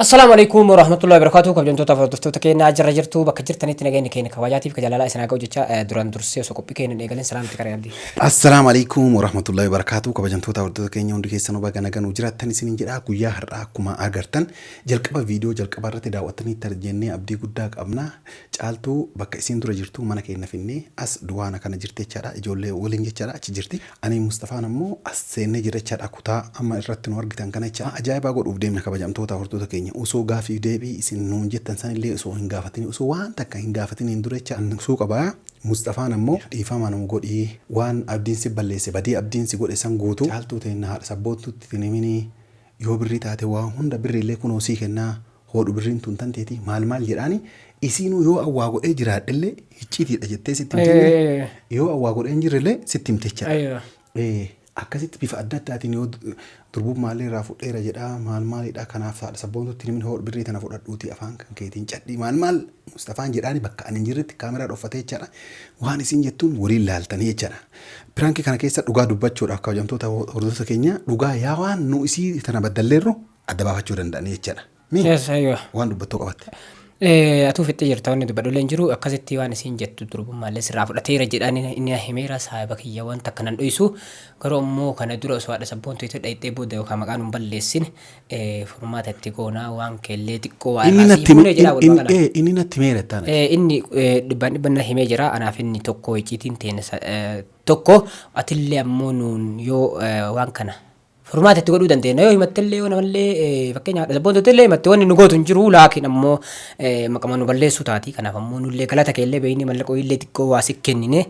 Assalaamu alaikum warahmatullahi wabarakatuh kabajamtoota hordoftoota keenyaa jirra jirtu bakka jirtanitti nageenyi keenya kabajaatiif ka jaalalaa isin haa ga'u jecha eh, duraan dursee osoo qophii keenya hin eegalin salaamti qaree abdii. Assalaamu alaikum warahmatullahi wabarakatuh kabajamtoota hordoftoota keenya hundi keessanuu baga nagaan jiraattan isiniin jedha guyyaa har'aa akkuma agartan jalqaba viidiyoo jalqaba irratti daawwattanii tarjennee abdii guddaa qabna caaltuu bakka isiin dura jirtu mana keenya finnee as duwaana kana jirti jechaadha ijoollee waliin jechaadha achi jirti Anii fi Mustafaan ammoo as seennee jirra jechaadha kutaa amma irratti nu argitan kana jechaadha ajaa'ibaa godhuuf deemna kabajamtoota hordota keenya osoo gaaffiif deebii isin nuun jettan san illee osoo hin gaafatini osoo waan takka hin gaafatiniin dura jecha an dursuu qaba Mustafaan ammoo dhiifama nuu godhi waan Abdiin si balleesse badii Abdiin si godhe san guutuu caaltuu teenna haadha sabboontuutti hin himinii yoo birrii taate waa hunda birriillee kunoo sii kennaa hoodhu birriin tun tan teetii maal maal jedhaani isiinuu yoo an waa godhee jiraadhellee hicciitiidha jettee sitti himti Ee, ee, ee. yoo an waa godhee hin jirrellee sitti himti jechaadha. Aywa. Ee, akkasitti bifa adda addaatiin yoo du- durbummaallee irraa fudheera jedhaa maal maalidha kanaaf saadha sabboontutti himin hoodhu birrii tana fudhadhuuti afaan kan keetiin cadhii maal maal mustafaan jedhaani bakka ani hin jirretti kaameraa dhoffatee jechaadha waan isiin jettuun waliin laaltanii jechaadha piraankii kana keessa dhugaa dubbachuudhaaf kabajamtoota hordoftoota keenya dhugaa yaa waan nu isii tana baddalleerru adda baafachuu danda'anii jechaadha. Mi Yes, aywa. waan dubbattoo qabatte. Eh, atuu fixxee jirta wanni dubbadhullee hin jiru akkasitti waan isiin jettu durbummaallee sirraa fudhateera jedhaan inni na himeera saahiba kiyya waan takka nan dhoysu garuu ammoo kana dura osoo haadha sabboontu itti dhayxee booda yookaan maqaan hin balleessin eh, furmaata itti goonaa waan keellee xiqqoo waa Inni irraa natti sii fuunee jedhaa walumaa inni- galaan. eh, inni natti meera taana. Eh, inni eh, dhibbaan dhibban na himee jira anaaf inni tokko icciitiin teenya sa- eh, tokko atillee ammoo nuun yoo eh, waan kana furmaata itti godhuu dandeenya. Yoo himattellee yoo namallee fakkeenyaaf haadha sabboontuutillee himatte wanni nu gootu hin jiru laakiin ammoo maqama nu balleessuu taati. Kanaaf ammoo nullee galata keellee beeknee mallaqoo illee xiqqoo waa si kennine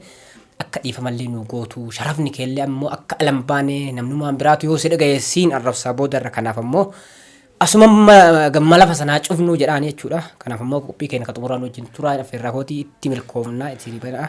akka dhiifamallee nu gootu sharafni keellee ammoo akka alan baane namnumaan biraatu yoo si dhagaye siin arrabsaa boodarra kanaaf ammoo asuma gamma lafa sanaa cufnuu jedhaan jechuudha. Kanaaf ammoo qophii keenya ka xumuraan wajjin turaa affeerraa kootii itti milkoomnaa itti banaa.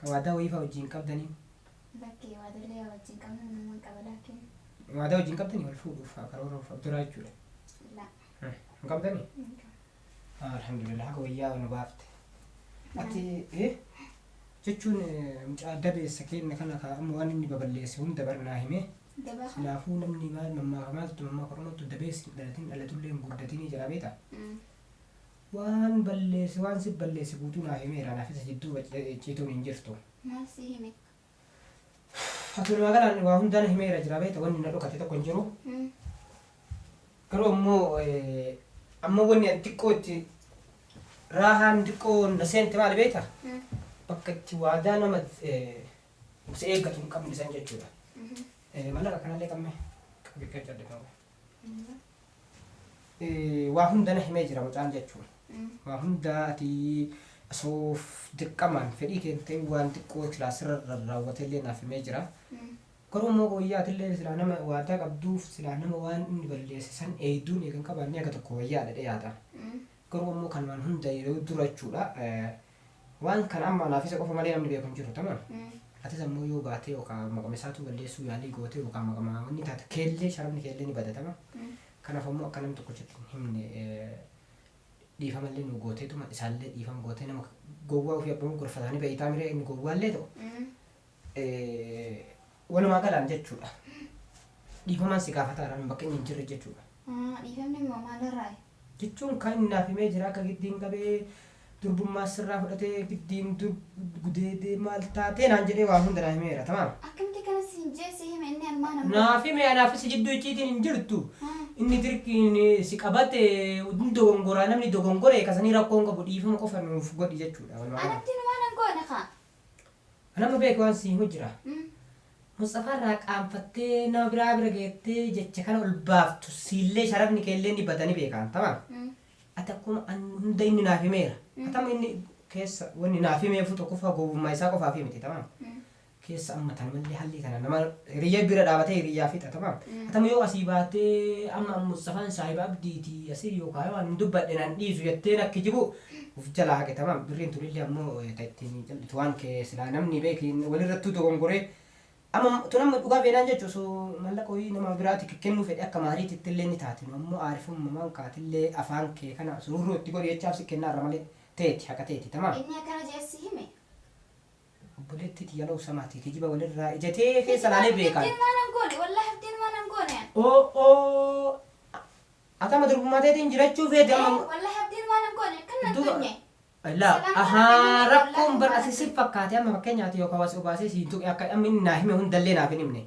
Ka waadaa wayii faa wajjiin qabdanii? Lakkii, waadallee yaa wajjiin qabnu naman qaba laakkiin. Waadaa wajjiin qabdanii wal fuudhuuf faa karooruuf abduraa jechuudha? La. Hin qabdanii? Hin qabu. Alhamdulillah haga wayyaa nu baafte. Ati eh, jechuun eh, mucaa dabeessa keenna kana kaa amma waan inni baballeesse hunda barnaa himee Dabaa kan? Kanaafuu namni maal mammaaka maaltu mammaaka oromootu dabeessi hin dhalatin dhalatullee hin guddatinii jira beekta. Mm. Waan balleesse waan si balleesse guutuu naa himeera naaf isa jidduu icciituun hin jirtu. Maal si hime? Atumaa galaan waa hundaa na himeera jira beekta wanni na dhokate tokko hin jiru. Garuu ammoo amma wanni ani xiqqoo itti raahaan xiqqoo na seente maali beekta? Bakka itti waadaa nama si eeggatu hin qabne san jechuudha. Mallaqa kanallee qamme qabi qaccadde ta'u. Waa hunda na himee jira mucaan jechuun. Waa hunda ati osoo dirqamaan fedhii kee hin ta'in waan xiqqoo silaa sirra rarraawwate illee naaf himee jira. Garuu immoo wayyaa ati illee silaa nama waadaa qabduuf silaa nama waan inni balleesse san eeyduun eega hin qabaanne haga tokko wayyaadha jedhee yaada. Garuu immoo kanumaan hunda yeroo dura jechuudha Waan kana amma anaaf isa qofa malee namni beeku hin jiru tamaam. Atis ammoo yoo baatee yookaan maqama isaatuu balleessuu yaalii gootee yookaan maqama wanni taate keellee sharafni keellee ni bada tama. Kanaaf ammoo akka namni tokkochatti hin himne eh, dhiifamallee nu gooteetuma isaallee dhiifama gootee nama gowwaa ofii abbamuu gorfataanii ba'iitaa miree inni gowwaallee ta'u eh, Walumaa galaan jechuudha. Dhiifamaan si gaafata irraa bakka inni hin jirre jechuudha. Ah, Dhiifamni immoo maalirraayi? Jechuun kan inni naaf himee jira akka giddiin qabee durbummaa sirraa fudhatee giddiin dur gudeedee maal taatee naan jedhee waa hunda naa himeera tamaam. Akkamitti kana siin jee si hime inni almaan ammoo? Naaf hime anaaf si jidduu icciitiin hin jirtu. Ah, Inni dirqiin eh, si qabate hin dogongoraa namni dogongore kasanii rakkoon qabu dhiifama qofa nuuf godhi jechuudha. Walumaa galaan. Anatti numaa nan goone kaa. An amma beeke waan si himu jira. Musxafaa irraa qaanfattee nama biraa bira geettee jecha kana ol baaftu siillee sharafni keellee ni bada ni beeka an tamam. Ati akkuma an hunda inni naaf himeera. Ati amma inni keessa wanni naaf himeefuu tokkoffaa gowwummaa isaa qofaafii miti tamam. Keessa amma tan mallee hallii tana nama hiriyyaa bira dhaabatee hiriyyaa fixa tamam. Ati amma yoo asii baatee amma Musxafaan saahiba abdiiti asii yoo kaayoo an hin dubbadhe nan dhiisu jettee na kijibuu Uf jalaa haqe tamaam birriin tunillee ammoo ta ittiin callitu waan kee silaa namni beeki walirrattuu dogongoree amma tun amma dhugaa beenaan jechu osoo mallaqa wayii nama biraati kennuu fedhe akka maariititti illee ni taati nu ammoo aarifummamaan kaatillee afaan kee kana sururroo itti godhi jechaaf si kennaarra malee teeti haqa teeti tamaam. Inni akkana je'ee si hime. Obboleettii tiyya loow samaati kijiba walirraa ija tee keessa laalee beekaan. Hirteen waan an goone wallahi hirteen waan an goone an. Oo'o ati amma durbummaa teetiin jirachuu feete amma. Ee wallahi hirteen waan an goone akkan nan tuqne. Laa ahaa rakkoon bar ati si fakkaate amma fakkeenyaa ati yookaan waa si obaasee siin tuqe akka amma inni naa hime hundallee naaf hin himne.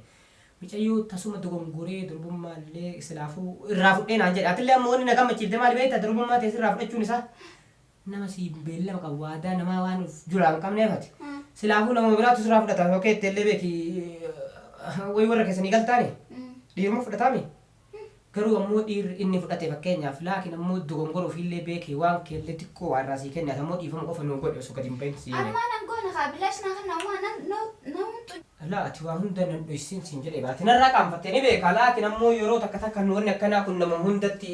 Micayyoo tasuma dogongoree durbummaallee silaafuu irraa fudhee naan jedhe atillee amma wanni na gammachiifte maali beekta durbummaa tee sirraa fudhachuun isaa. Nama siin beellama qabu waadaa namaa waan of julaa hin qabneef ati silaafuu namuma biraatu sirraa fudhata yoo keette illee beeki wayi warra keessanii galtaani dhiiruma fudhataami garuu ammoo dhiirri inni fudhate fakkeenyaaf laakiin ammoo dogongora ofiillee beekee waan keellee xiqqoo waa irraa sii kenne ati ammoo dhiifama qofa nuu godhe osoo gadi hin bahin sii Ani jedhe waan an goone kaa bilaash naa kenna waan nan namtu laa ati waa hunda nan dhoysiin siin jedhe baate narraa qaanfattee ni beekaa laakiin ammoo yeroo takka takka nu wanni akkanaa kun nama hundatti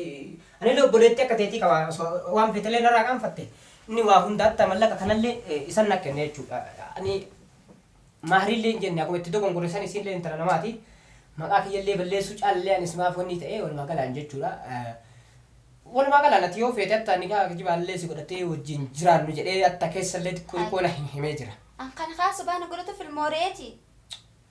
Anille obboleettii akka teetii qaba, osoo waan feetellee narraa qaanfatte, inni waa hunda hatta mallaqa kanallee isan na kenne jechuudha. Ani Mahriillee hin jenne, akkuma itti dogongore san isiinlee intala namaati, maqaa kiyyallee balleessuu caalallee ani simaaf wannii ta'ee walumaa galaan jechuudha. Walumaa galaan ati yoo feete hatta nikaah kijibaallee si godhattee wajjiin jiraannu jedhee hatta keessallee xiqqoo xiqqoo na himee jira. An kan haa sobaa na godhatuuf ilmoo re'eeti?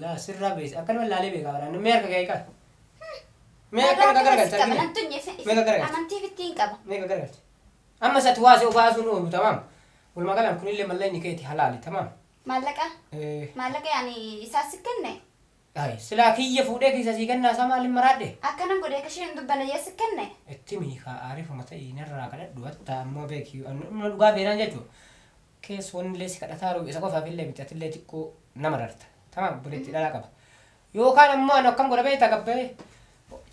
Laa sirraa beeysa akkanuma laalee beekaa baraan mee harka kee qaba. Mee akka akka garagalcha argina. Mee akka garagalcha. Amantii fittiin qaba. Mee akka garagalcha. Amma isatti waasee obaasuun oolu tamaam. Walumaa galaan kunillee mallayni keeti halaali tamaam. Maallaqa? Maallaqa yaani isaa si kenne? Ay silaa kiyya fuudhee keessa sii kennaa isaa maaliin maraadhe? Akkanan godhee kashee hin dubbane yaa si kenne? Itti miikaa aarifuma ta'ii narraa kadhadhu hatta ammoo beeki dhugaa feenaan jechuudha. kees wannillee si kadhataaru isa qofaafillee miti atillee xiqqoo na mararta tamaam obboleetti dhalaa qaba yookaan ammoo anu akkam godha beekta gabbayee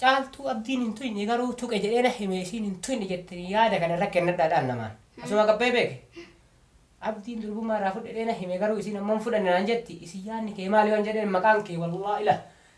caaltuu abdiin hin tuyne garuu tuqe jedhee na hime isiin hin tuyne jette yaada kana irra kennadhaa dhaal namaan asuma gabbayee beeke abdiin durbummaa irraa fudhedhee na hime garuu isiin ammoo hin fudhanne naan jetti isin yaanni kee maali waan jedheen maqaan kee wallaa ila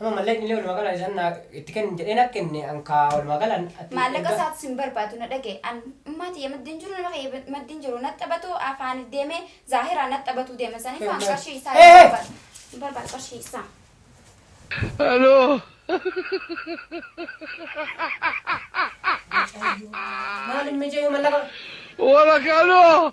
Amma mallaqni illee walumaa galaan isaan naa itti kenni jedhee naa kenne an kaa walumaa galaan ati Maallaqa erga- isaatis hin barbaadu na dhagaye. An ummaa tiyya maddiin jiru nama kiyya maddiin jiru na taphatu afaan deemee zaahiraa na taphatu deema saniif an qarshii isaa Hey, hin hey! barbaadu. Hin barbaadu qarshii isaa. Maaliin mijaayuu mallaqa? Wala kano!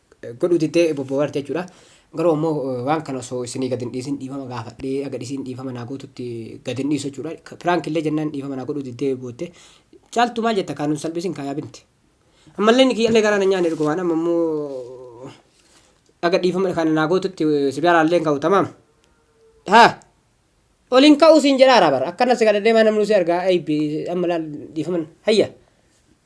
godhuu diddee bobbobarti jechuudha. Garuu ammoo waan kana osoo isinii gad hin dhiisin dhiifama gaafadhee haga isiin dhiifama naa gootutti gad hin dhiisu jechuudha. Prank illee jennaan dhiifama naa godhuu diddee bootte. Caaltuu maal jetta kaa nun salphisin kaa yaa binti. Ammallee inni kiyyallee garaa na nyaanne dhugumaan amma immoo haga dhiifama kana naa gootutti si biraallee hin ka'u tamaam. Haa ol hin ka'u siin jedhaara bara akkana si gad deemaa namni si argaa aybi amma laal dhiifaman hayya.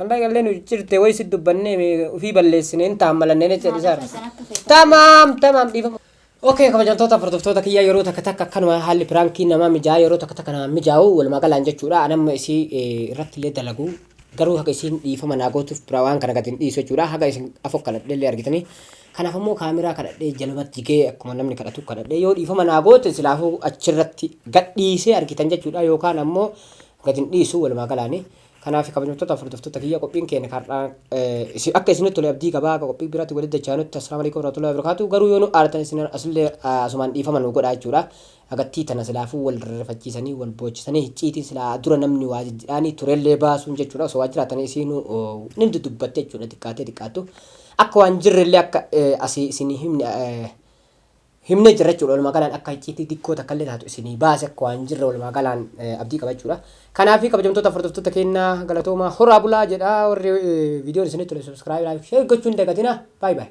Ammaa gallee nu ciccirte wayi si dubbannee mee ofii balleessine hin taammalanne jecha dhisaar. Tamaam tamaam dhiifama. Okay kabajamtoota hordoftoota kiyyaa yeroo takka takka akkanuma haalli piraankii namaa mijaa yeroo takka takka namaa mijaa'u walumaa galaan jechuudha anamma isii eh, irratti illee dalagu garuu haga isiin dhiifama naa gootuuf biraa waan kana gadi hin dhiisu jechuudha haga isin afoo kadhadhee illee argitanii kanaaf immoo kaameraa kadhadhee jalumatti jigee akkuma namni kadhatu kadhadhee yoo dhiifama naa goote silaafuu achirratti gadhiisee argitan jechuudha yookaan ammoo gadi hin dhiisu walumaa galaanii Kanaafi kabajamtoota hordoftoota kiyya qophiin keenya har'aa akka isinitti tole abdii qaba akka qophii biraatti walitti dachaanutti assalaamu alaikum warahmatullahi wabarakatuh garuu yoo nu aartan isin asillee asumaan dhiifama nu godhaa jechuudha agattii tana silaafuu wal rifachiisanii wal boochisanii hicciitiin silaa dura namni waa jijjidhaanii turellee baasuun jechuudha osoo waa jiraatanii isiinuu nin dudubbatte jechuudha xiqqaatee xiqqaattu akka waan jirrellee akka asii isin himne himnee jirra jechuudha. Walumaa galaan akka icciitii xiqqoo takkallee taatu isinii baase akka waan jirra walumaa galaan abdii qaba jechuudha. Kanaaf kabajamtoota hordoftoota keenya galatoomaa horaa bulaa jedha warri viidiyoon isinitti tole subscribe like share gochuun dagatina. Bye bye.